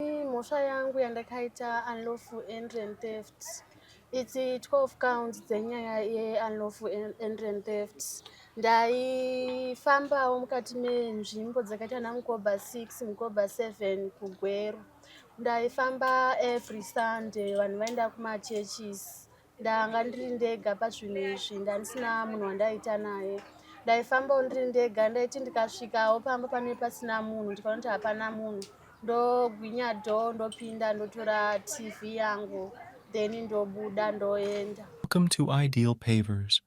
mhosva yangu yandakaita unlawful entry and theft its 12 counts dzenyaya yeunlawful entry and theft ndaifambawo mukati menzvimbo dzakaita ana mukoba 6 mukoba 7 kugweru ndaifamba every sunday vanhu vaenda kumachurches ndanga ndiri ndega pazvinhu izvi ndandisina munhu wandaita naye ndaifambawo ndiri ndega ndaiti ndikasvikawo pamba pane pasina munhu ndikaona kuti hapana munhu ndogwinya do ndopinda ndotora tv yangu then ndobuda ndoenda welcome to ideal pavers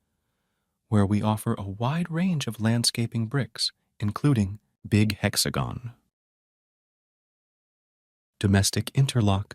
where we offer a wide range of landscaping bricks including big hexagon domestic interlock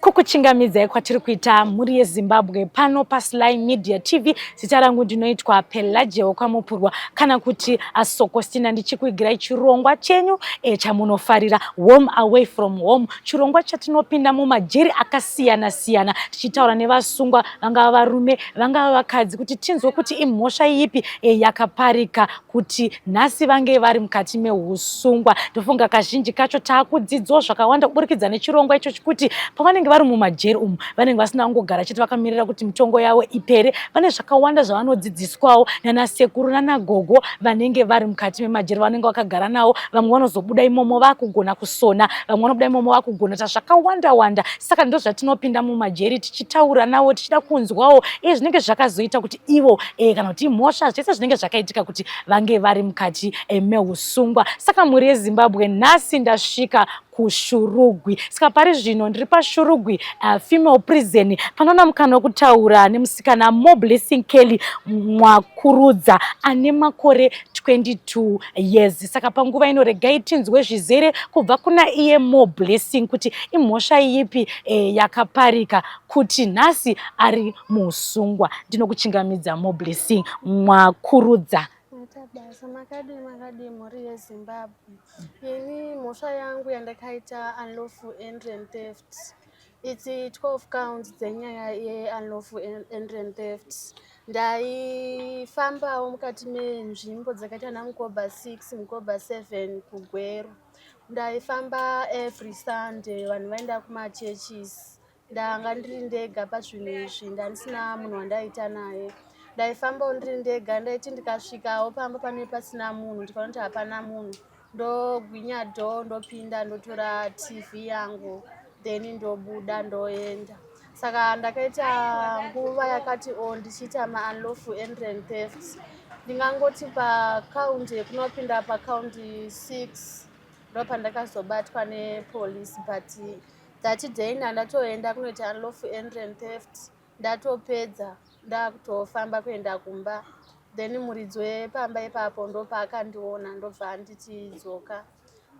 kukuchingamidzai kwatiri kuita mhuri yezimbabwe pano pasly media tv zita rangu ndinoitwa pelagia wekwamupurwa kana kuti asokostina ndichikuigirai chirongwa chenyu e, chamunofarira home away from home chirongwa chatinopinda mumajeri akasiyana siyana tichitaura nevasungwa vangava varume vangava vakadzi kuti tinzwe kuti imhosva ipi eh, yakaparika kuti nhasi vange vari mukati meusungwa ndofunga kazhinji kacho taakudzidzwa zvakawanda kuburikidza nechirongwa icho chekuti pavanenge vari mumajeri umu vanenge vasina kungogara chete vakamirira kuti mitongo yavo ipere vane zvakawanda zvavanodzidziswawo nana sekuru nana gogo vanenge vari mukati memajeri vanenge vakagara nawo vamwe vanozobuda imomo vakugona kusona vamwe vanobuda imomo vakugona ta zvakawanda wanda saka ndozvatinopinda mumajeri tichitaura navo tichida kunzwawo iye zvinenge zvakazoita kuti ivo e, kana kuti mhosva zvese zvinenge zvakaitika kuti vange vari mukati e, meusungwa saka mhuri yezimbabwe nhasi ndasvika kushurugwi saka pari zvino ndiri pashurugwi uh, female prison panoona mukana wekutaura nemusikana moblessing kelly mwakurudza ane makore 22 Yes, saka panguva ino regai tinzwe zvizere kubva kuna iye Mo Blessing kuti imhosva iyipi eh, yakaparika kuti nhasi ari muusungwa. Ndinokuchingamidza Mo Blessing mwakurudza. Matabasa makadi makadi mhuri yeZimbabwe. Ini mhosva yangu yandakaita unlawful entry and theft. It's 12 counts dzenyaya yeunlawful entry and theft. Ndaifambawo mukati menzvimbo dzakaita ana mukoba 6 mukoba 7 kugweru. Ndaifamba every Sunday vanhu vaenda kumachurches. Ndanga ndiri ndega pazvinhu izvi ndandisina munhu wandaita naye. Ndaifambawo ndiri ndega ndaiti ndikasvikawo pamba pane pasina munhu ndikaona kuti hapana munhu ndogwinya door ndopinda ndotora tv yangu then ndobuda ndoenda saka ndakaita nguva yakati o oh, ndichiita maunlawful entry and theft ndingangoti pakaundi yekunopinda pakaundi six ndopandakazobatwa nepolice but that day ndandatoenda kunoita unlawful entry and theft ndatopedza ndakutofamba kuenda kumba then muridzi wepamba ipapo ndopaakandiona ndobva anditi dzoka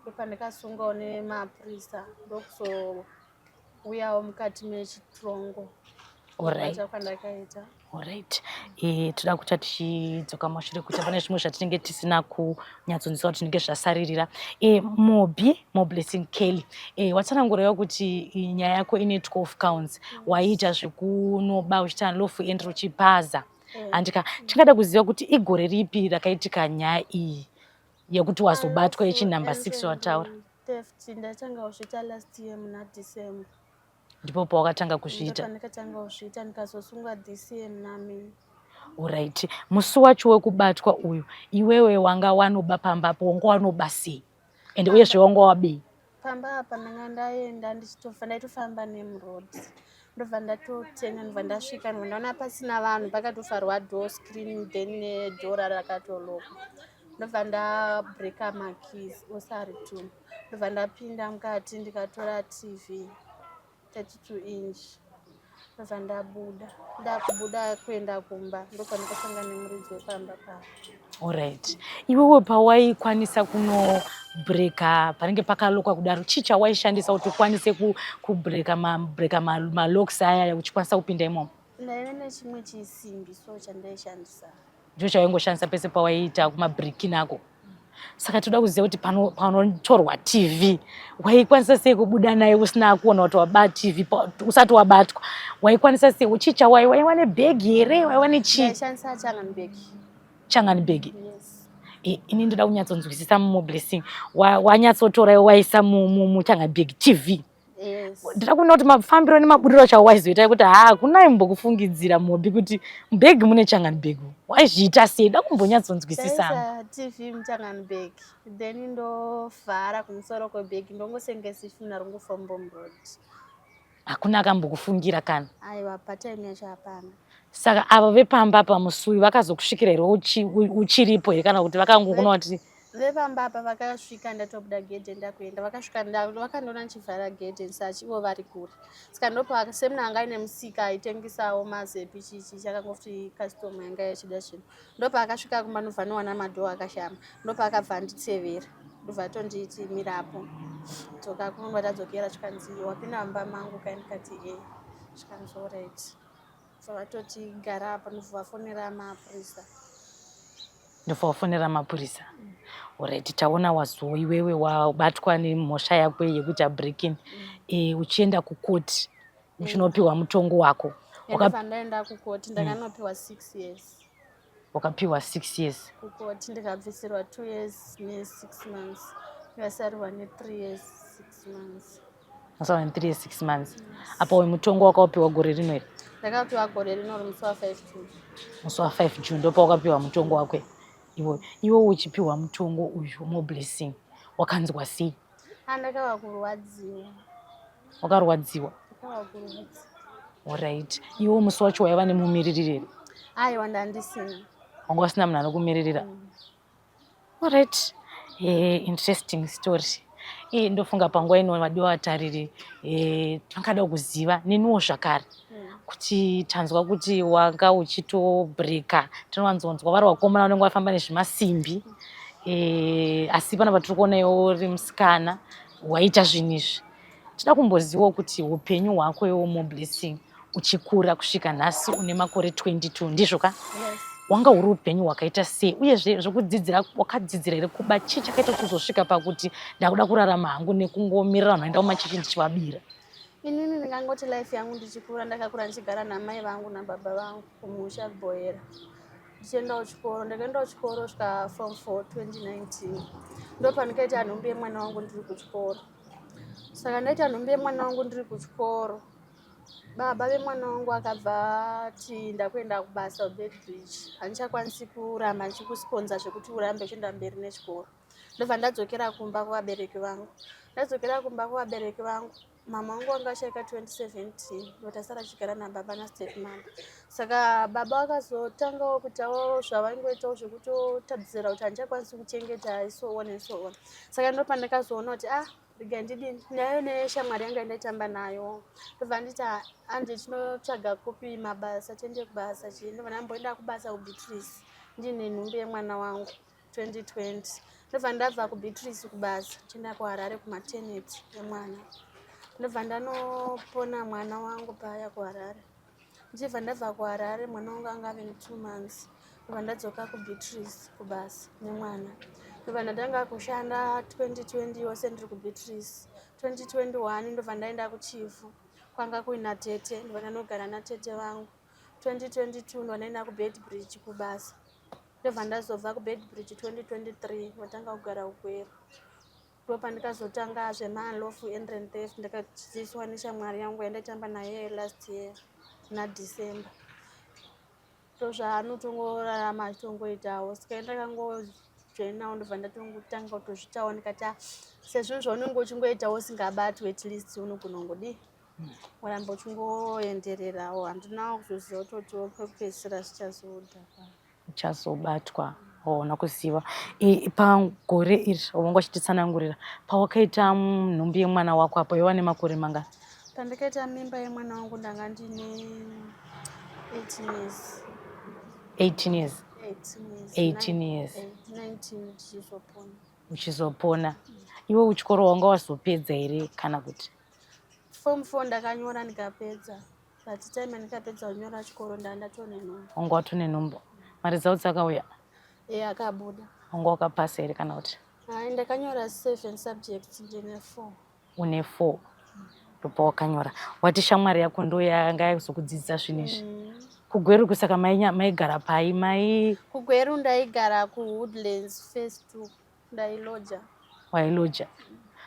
ndopandikasungawo nemapurisa ndokuzouyawo mukati mechitrongo orit e, eh, toda kuta tichidzoka mashure kuti pane zvimwe zvatinenge tisina ku nyatsonzwa kuti zvinenge zvasaririra e, eh, mobi moblessing kelly e, eh, watsanangurawo kuti nyaya yako ine 12 counts waiita zvekunoba uchiita lofu end uchipaza mm. handika tingada kuziva kuti igore ripi rakaitika nyaya iyi yekuti wazobatwa yechinumber six wataura ndatangawo zvita last year muna december ndipo pawakatanga kuzviita ndikatanga kuzviita ndikazosungwa dcm nami orit musi wacho wekubatwa uyu iwewe wanga wanoba pamba apo wanga wanoba sei and uyezve wanga wabii pamba apa ndanga ndaenda ndichitofa ndaitofamba nemroad ndobva ndatotenga ndobva ndasvika ndobva ndaona pasina vanhu pakatofarwa door screen then dora rakatoloka ndobva ndabreaka makeys osari two ndobva ndapinda mukati ndikatora tv 32 inch ndobva ndabuda ndakubuda kuenda kumba ndofana kusanga nemuridzi wepamba pavo orit iwewe pawaikwanisa kuno breka panenge pakalokwa kudaro chii chawaishandisa kuti ukwanise kubreka mabreka malocks ayaya uchikwanisa kupinda imomo ndaive nechimwe chisimbi so chandaishandisa Joshua waingoshandisa pese pawaiita kumabreaking ako saka toda kuziva kuti panotorwa tv waikwanisa sei kubuda naye usina kuona kuti wabaa tv usati wabatwa waikwanisa sei uchii chawai waiwa nebhegi here waiwa nechii changani bhegi e, ini ndoda kunyatsonzwisisa mumo blessing wanyatsotora waisa muchangani bhegi tv ndiri kuona kuti mafambiro nemaburiro chawaizoita yekuti ha hakuna imbokufungidzira mhobi kuti mbegi mune changanbeg waizviita sei da kumbonyatsonzwisisanga tv muchanganbeg then ndovhara kumusoro kwebhegi ndongosenga sifina rongofombomrod hakuna akambokufungira kana aiwa patime yacho hapana saka avo vepamba pamusui vakazokusvikira here uchiripo here kana kuti vakangokuona kuti vepamba apa vakasvika ndatobuda gedhe ndakuenda vakasvika vakandiona ndichivhara gedhe ndisachi ivo vari kure saka ndopa semna anga aine musika aitengesawo mazepi chichi chakangoti custom yanga yachida chinhu ndopa akasvika kumba ndobva anowana madhoo akashama ndopa akabva anditsevera ndobva tonditi mirapo dzoka kunwa tadzokera zvikanzi wapinda mumba mangu kaindikati e zvikanzi orit so vatoti gara apa ndovafonera mapurisa ndovafonera mapurisa mm. orit taona wazo iwewe wabatwa nemhosva yako yekuita breaking mm. e, uchienda kukoti uchinopiwa mutongo wako ndaenda kukoti ndakanopiwa six years wakapiwa six years kukoti ndikabvisirwa two years nesix months ndikasarurwa nethree years six months masarurwa nethree years six months apa uyu mutongo wakawapiwa gore rino here ndakapiwa gore rino rimusi wafive june musi wafive june ndopa wakapiwa mutongo wakwe iwe iwe uchipiwa mutongo uyu moblessing wakanzwa sei Ah, ndakava kurwadziwa. Wakarwadziwa? Ndakava kurwadziwa. Alright. Iwo musi wacho waiva nemumiririri here? Aiwa ndandisina. Wanga usina munhu anokumiririra? Mm. Alright. Eh, interesting story. Eh, ndofunga panguva ino vadiwa vatariri eh, vangada kuziva neniwo zvakare. kuti tanzwa kuti wanga uchitobreaker tinowanzonzwa vari vakomana vanenge vafamba nezvimasimbi e, asi pana patiri kuona iwo uri musikana waita zvinhu izvi tida kumbozivawo kuti upenyu hwako iwo moblessing uchikura kusvika nhasi une makore 22 ndizvo ka yes. wanga uri upenyu hwakaita sei uyezve zvekudzidzira wakadzidzira here kuba chii chakaita kuzosvika pakuti ndakuda kurarama hangu nekungomirira vanhu vaenda kumachechi ndichivabira Inini ndingangoti life yangu ndichikura ndakakura ndichigara namai vangu nababa vangu kumusha kuboyera ndichiendawo chikoro ndakaendawo chikoro svika form 4 2019 ndopandikaita nhumbi yemwana wangu ndiri kuchikoro saka ndaita nhumbi yemwana wangu ndiri kuchikoro baba vemwana wangu akabva ti ndakuenda kubasa ubedbridge handichakwanisi kuramba ndichikusponza zvekuti urambe uchienda mberi nechikoro ndobva ndadzokera kumba kuvabereki vangu ndadzokera kumba kuvabereki vangu mama wangu wanga achaika 2017 but asara achigara nababa nastep mama saka baba vakazotangawo kutawo zvavaingoitawo zvekutotadzisira kuti handichakwanisi kuchengeta so on and so on saka ndopandakazoona kuti ah rega ndidini nayo neshamwari yanga ndaitamba nayo ndobva nditi anje tinotsvaga kupi mabasa tiende kubasa chii ndobva ndamboenda kubasa kubeatrice ndine nhumbi yemwana wangu 2020 ndobva ndabva kubeatrice kubasa chienda kuharare kumateneti emwana ndobva ndanopona mwana wangu paya kuharare ndichibva ndabva kuharare mwana wangu anga ave netwo months ndobva ndadzoka kubeatrice kubasa nemwana ndobva ndatanga kushanda 2020 yose ndiri kubeatrice 2021 ndobva ndaenda kuchifu kwanga kuina tete ndobva ndanogara natete vangu 2022 ndobva ndaenda kubed bridge kubasa ndobva ndazobva kubeadbridge 2023 watanga kugara ugweru ndo pandikazotanga zvemaalofu endrand theft ndakadzidziswa neshamwari yangu yandaitamba naye last year nadecember so zvaanotongorarama achitongoitawo saka ndakangojoinawo ndobva ndatotanga kutozvitawo ndikati ah, sezvinhu zvaunenge uchingoitawo usingabatwi at least unogona ungodii waramba uchingoendererawo handinawo kuzoziva kuti otiwo pekupedzisira zvichazoda uchazobatwa hauna kuziva pagore iri wanga uchititsanangurira pawakaita nhumbi yemwana wako apo yova nemakore manga pandakaita mimba yemwana wangu ndanga ndine 18 years 18 years 18 years uchizopona iwe uchikoro wanga wazopedza here kana kuti Form 4 ndakanyora ndikapedza but time ndikapedza kunyora chikoro ndandatone nhumbu. Wanga watone nhumbu. Mari dzao dzakauya? Eh akabuda. Wanga wakapasa here kana kuti? Hai ndakanyora 7 subjects ndine 4. Une 4. Ndipo wakanyora. Wati shamwari yako ndo yanga yakuzokudzidzisa zvinhu izvi. Mm. Kugweru kusaka maigara pai mai? Kugweru ndaigara kuWoodlands phase 2. Ndailoja. Wailoja.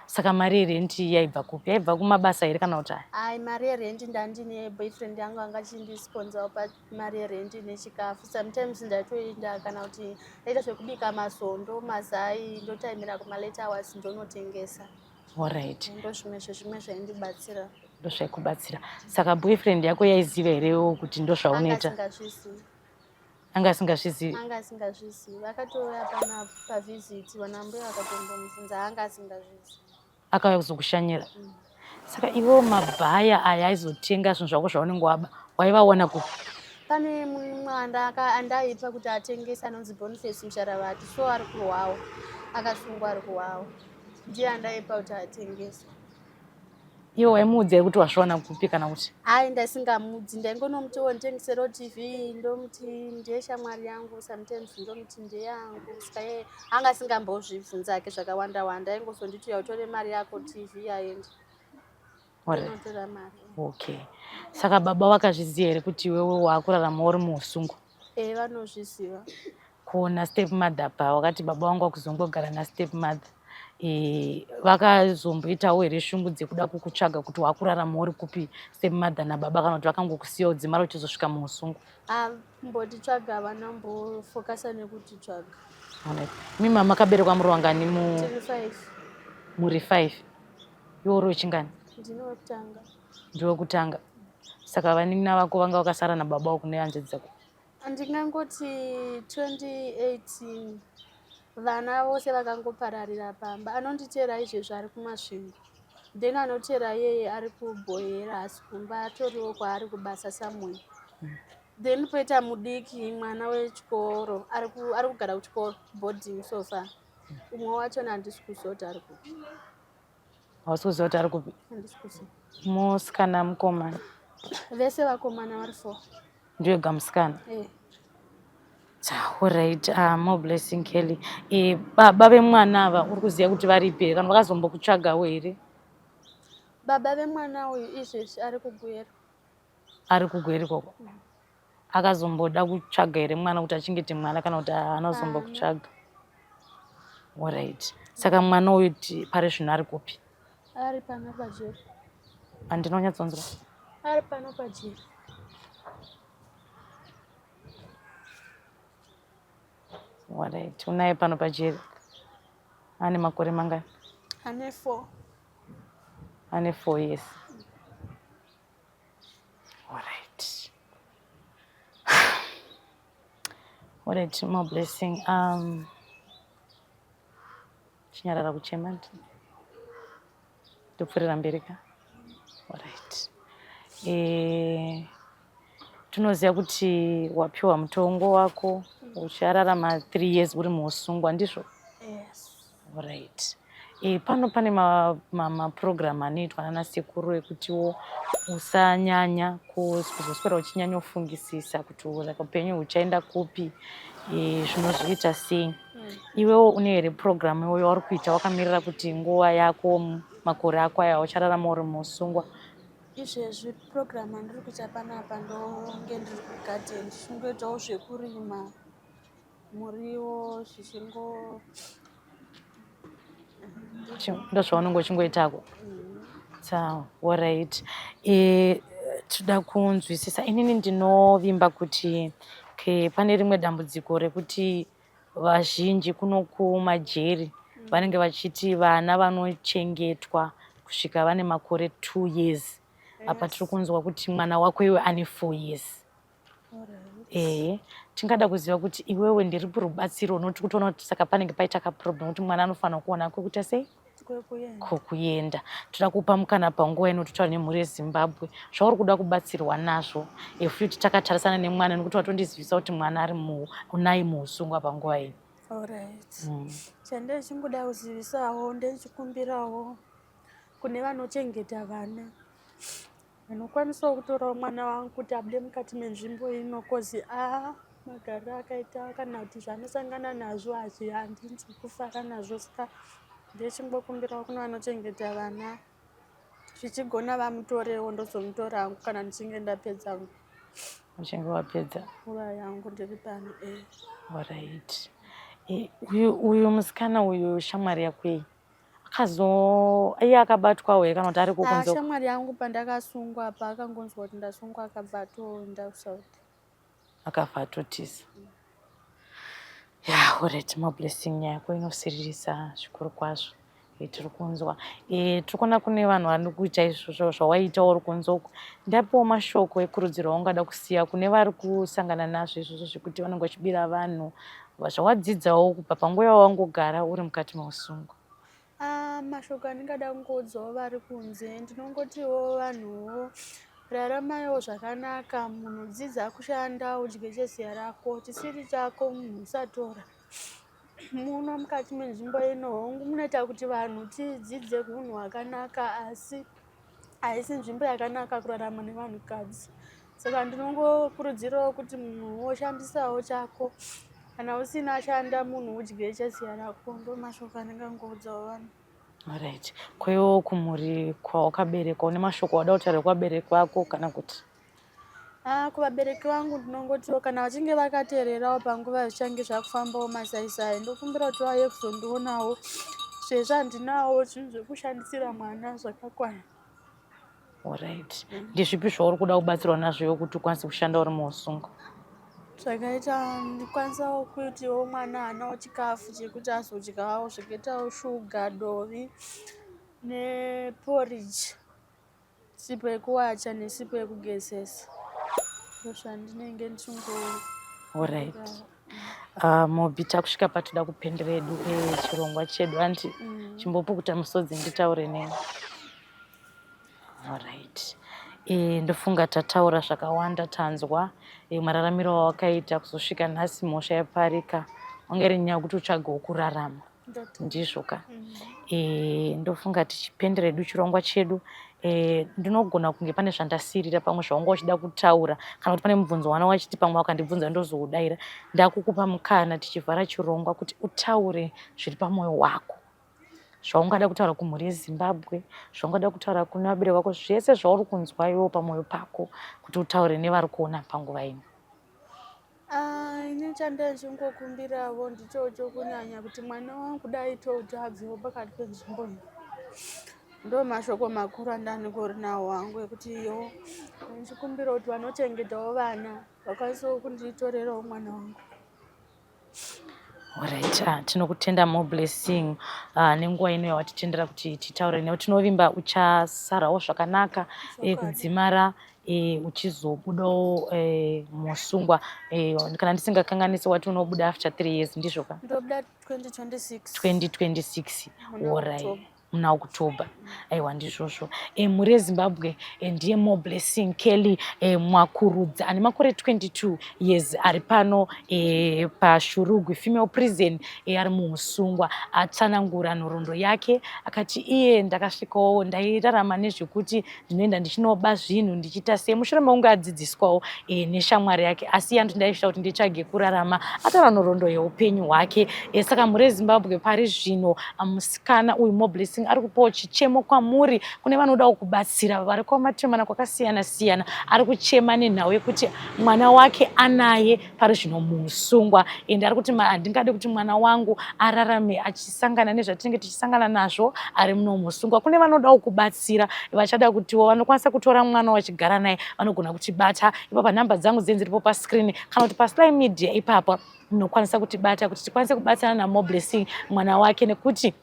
Saka mari yerent yaibva kupi? Yaibva kumabasa here kana kuti? Ai mari yerent ndandine boyfriend yangu anga achindisponsor pa mari yerent nechikafu. Sometimes ndaitoenda kana kuti ndaita zvekubika masondo, mazai, ndotaimira kuma late hours ndonotengesa. All right. Ndozvimwe zvezvimwe zvaindibatsira ndozvaikubatsira saka boyfriend yako yaiziva here kuti ndozvaunoita anga asingazvizivi anga asingazvizivi akatouya pana pavisit vana mbuya vakatombomubvunza anga asingazvizivi akauya kuzokushanyira mm. saka ivo mabhaya aya aizotenga zvinhu zvako zvaunenge waba waivaona kupi pane mwana andaipa kuti atengese anonzi boniface musharavati so ari kuhwawo akasungwa ari kuhwawo ndiye andaipa kuti atengese Iwe waimuudzai kuti wazviwana kupi kana kuti? Hayi ndaisingamudzi ndaingonomuti wo nditengisero TV ndomuti ndiye shamwari yangu sometimes ndomuti ndiye yangu saka yeye anga asingambozvibvunza hake zvakawanda wanda aingozonditi uya utore mari yako TV yaenda. Okay. Saka baba vakazviziva here kuti iwewe wakurarama uri muhusungu? Eh vanozviziva. Kuona step mother pa wakati baba wangu akuzongogara na step mother. Eh vakazomboitawo here shungu dzekuda kukutsvaga kuti wakurarama uri kupi step mother na baba kana kuti vakangokusiya udzimara uchizosvika muusungu. Ah mboti tsvaga vana mbo focus nekuti tsvaga. Alright. Mi mama kaberekwa muri wangani mu? Tiri five. Muri five. Iwe uri wechingani? Ndinotanga. ndiwe kutanga saka vanin'ina vako vanga vakasara nababa wako nehanzvadzi dzako ndingangoti 2018 vana vose vakangopararira pamba anonditeera izvezvo ari kumasvingo then anoteera yeye ari kubhoyera asi kumba atoriwo kwaari kubasa samuel mm. then poita mudiki mwana wechikoro ari kugara kuchikoro boarding sofa umwe wacho nandisi kuzoti ari kupi hausi kuziva kuti ari kupi musikana mukomana vese vakomana vari four ndioga musikana eh. Alright, uh, ah, more blessing Kelly. E, eh, baba vemwana ava uri kuziva kuti varipi here kana vakazombokutsvagawo here? Baba vemwana uyu izvezvi ari kuGweru. ari kugweri koko akazomboda kutsvaga here mwana kuti achengete mwana kana kuti anozombo kutsvaga orit saka mwana uyu pari zvino ari kupi ari pano pajeri andinonyatsonzwa ari pano pajeri orit unaye pano pajeri ane makore mangani ane four ane four yes Alright. What a dream of blessing. Um, chinyarara kuchema ndopfurira mberi ka right e, eh, tinoziva kuti wapiwa mutongo wako uchararama three years uri muusungwa ndizvo yes. Right. E, pano pane maprogramu ma, ma anoitwa nana sekuru ekutiwo usanyanya kuzoswera uchinyanya kufungisisa kuti like upenyu huchaenda kupi e, zvinozviita sei mm. iwewo une here programu iwoyo wauri kuita wakamirira kuti nguva yako makore ako aya uchararama uri musungwa izvezvi program andiri kuita panapa ndonge ndiri kugadeni ndingoitawo zvekurima muriwo zvichingo ndozvaunenge uchingoitako sawa orit e, tinoda kunzwisisa inini ndinovimba kuti ke pane rimwe dambudziko rekuti vazhinji kuno kumajeri vanenge vachiti vana vanochengetwa kusvika vane makore two years apa tiri kunzwa kuti mwana wako iwe ane four years ehe tingada kuziva kuti iwewe ndiripi rubatsiro unoti kutoona kuti saka panenge paita kaproblem kuti mwana anofanira kuona kwekuita sei kwekuenda toda kupa mukana panguva ino totaura nemhuri yezimbabwe zvauri kuda kubatsirwa nazvo efuti takatarisana nemwana nekuti watondizivisa kuti mwana ari unai muusungwa panguva ino mm. chandichingoda mm. kuzivisawo ndechikumbirawo kune vanochengeta vana Ndinokwanisawo kutorawo mwana wangu kuti abude mukati menzvimbo ino kozi a magariro akaita kana kuti zvaanosangana nazvo hazvi handinzi kufara nazvo saka ndechingokumbirawo kune vanochengeta vana zvichigona vamutorewo ndozomutora hangu kana ndichinge ndapedza uchinge wapedza nguva yangu ndiri pano e eh. orit eh, uyu musikana uyu shamwari yakwei akazo iye akabatwa uye kana kuti ari kukunze ah, shamwari yangu pandakasungwa apa akangonzwa kuti ndasungwa akabva atoenda kusouth akafa atotiza ya orit mablessing yako inosiririsa zvikuru kwazvo eh, tiri kunzwa eh, tiri kuona kune vanhu vari kuita izvozvo zvawaita uri kunze uku ndapiwo mashoko ekurudziro waungada kusiya kune vari kusangana nazvo izvozvo zvekuti vanenge vachibira vanhu zvawadzidzawo kubva panguva yawangogara uri mukati meusungo ah, mashoko andingada kungoudzawo vari kunze ndinongotiwo vanhuwo raramayiwo zvakakanaka munhu dzidza kushanda udye cheziya rako chisiri chako munhu usatora muno mukati menzvimbo ino hongu munoita kuti vanhu tidzidze hunhu hwakanaka asi haisi nzvimbo yakanaka kurarama nevanhukadzi saka ndinongokurudzirawo kuti munhu woshandisawo chako kana usina ashanda munhu udye cheziya rako ndo mashoko anenge angoudzawo vanhu right kwewo kumhuri kwawakaberekwa une mashoko wada kutaura kwabereki wako kana kuti Ah, kuvabereki vangu ndinongotiwo kana vachinge vakateererawo panguva zvichange zvakufambawo masaisai ndokumbira kuti vauye kuzondionawo sezvo handinawo zvinhu zvekushandisira mwana zvakakwana orit ndizvipi zvauri kuda kubatsirwa nazvo iwe kuti ukwanise kushanda uri muusungo zvakaita ndikwanisawo kuitiwo mwana anawo chikafu chekuti azodyawo zvakaitawo shuga dovi neporridge sipo yekuwacha nesipo yekugezesa ndozvandinenge ndichingo orit ah, mobi takusvika patoda kupendera edu eh, chirongwa chedu anti mm. chimbopukuta musodzi nditaure neni orit eh, ndofunga tataura zvakawanda tanzwa eh, mararamiro wawakaita kuzosvika nhasi mhosva yaparika wangeri nyaya kuti utsvage wokurarama ndizvo ka e, ndofunga tichipendera edu chirongwa chedu e, ndinogona kunge pane zvandasirira pamwe zvawanga wachida kutaura kana kuti pane mubvunzo wana wachiti pamwe wakandibvunza ndozoudaira ndakukupa mukana tichivhara chirongwa kuti utaure zviri pamwoyo wako zvaungada kutaura kumhuri yezimbabwe zvaungada kutaura kuna vabere vako zvese zvauri kunzwa iwewo pamwoyo pako kuti utaure nevari kuona panguva ino Ah, ini chandazongokumbiravo ndichocho kunyanya kuti mwana wangu dai todzvadziwo pakati penzvimbo iyi ndo mashoko makuru andaningori nawo wangu ekuti iyo ndichikumbira kuti vanochengetawo vana vakwanisiwo kunditorerawo mwana wangu Alright, ah, tinokutenda more blessing ah, nenguva ino yawatitendera kuti titaure newe tinovimba uchasarawo zvakanaka eh, kudzimara e, uchizobudawo e, musungwa e, kana ndisingakanganisi wati unobuda after three years ndizvo ka ndobuda 2026 2026 orai muna october aiwa ndizvozvo e, mhuri yezimbabwe e, ndiye more blessing kelly e, mwakurudza ane makore 22 years ari pano e, pashurugwi female prison e, ari muusungwa atsanangura nhoroondo yake akati iye ndakasvikawo ndairarama nezvekuti ndinoenda ndichinoba zvinhu ndichiita sei mushure mekunge adzidziswawo e, neshamwari yake asi yandu ndaisvita kuti nditsvage kurarama atava nhoroondo yeupenyu hwake e, saka mhuri yezimbabwe pari zvino ah, musikana uyu moblessing ari kupawo chichemo kwamuri kune vanodawo kubatsira vari kwamatiremana kwakasiyana siyana ari kuchema nenhau yekuti mwana wake anaye pari zvino musungwa ende ari kuti handingade kuti mwana wangu ararame achisangana nezvatinenge tichisangana nazvo ari muno musungwa kune vanodawo kubatsira vachada kutiwo vanokwanisa kutora mwana wachigara naye vanogona kutibata ipapa nhamba dzangu dzinzi ripo pascreen kana kuti pasly media ipapa munokwanisa kutibata kuti tikwanise kubatsirana namoblessing mwana wake nekuti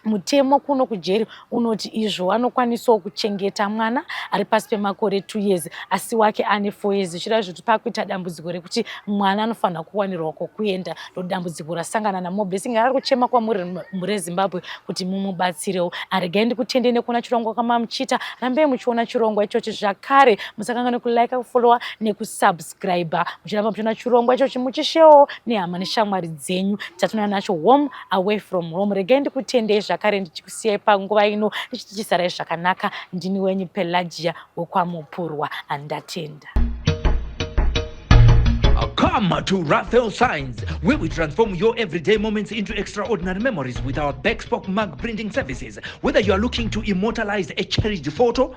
mutemo kuno kujeri unoti izvo anokwanisawo kuchengeta mwana ari pasi pemakore two years asi wake ane four years zvichireva zvekuti pakuita dambudziko rekuti mwana anofanira kuwanirwa kwokuenda ndodambudziko rasangana namobesi ngari kuchema kwamuri rezimbabwe kuti mumubatsirewo aregai ndikutendei nekuona chirongwa kwamamuchiita rambei muchiona chirongwa ichochi zvakare musakanganwe kulaika kufollowa nekusubscribe kusubscriber muchiramba muchiona chirongwa ichochi muchishewo nehama neshamwari dzenyu chatinouya nacho home away from home regai ndikutendei zvakare ndichikusiyai panguva ino ndichitichisarai zvakanaka ndini wenyu pelagia wekwamupurwa andatenda Come to Raphael Signs, where we transform your everyday moments into extraordinary memories with our backspoke mug printing services. Whether you are looking to immortalize a cherished photo,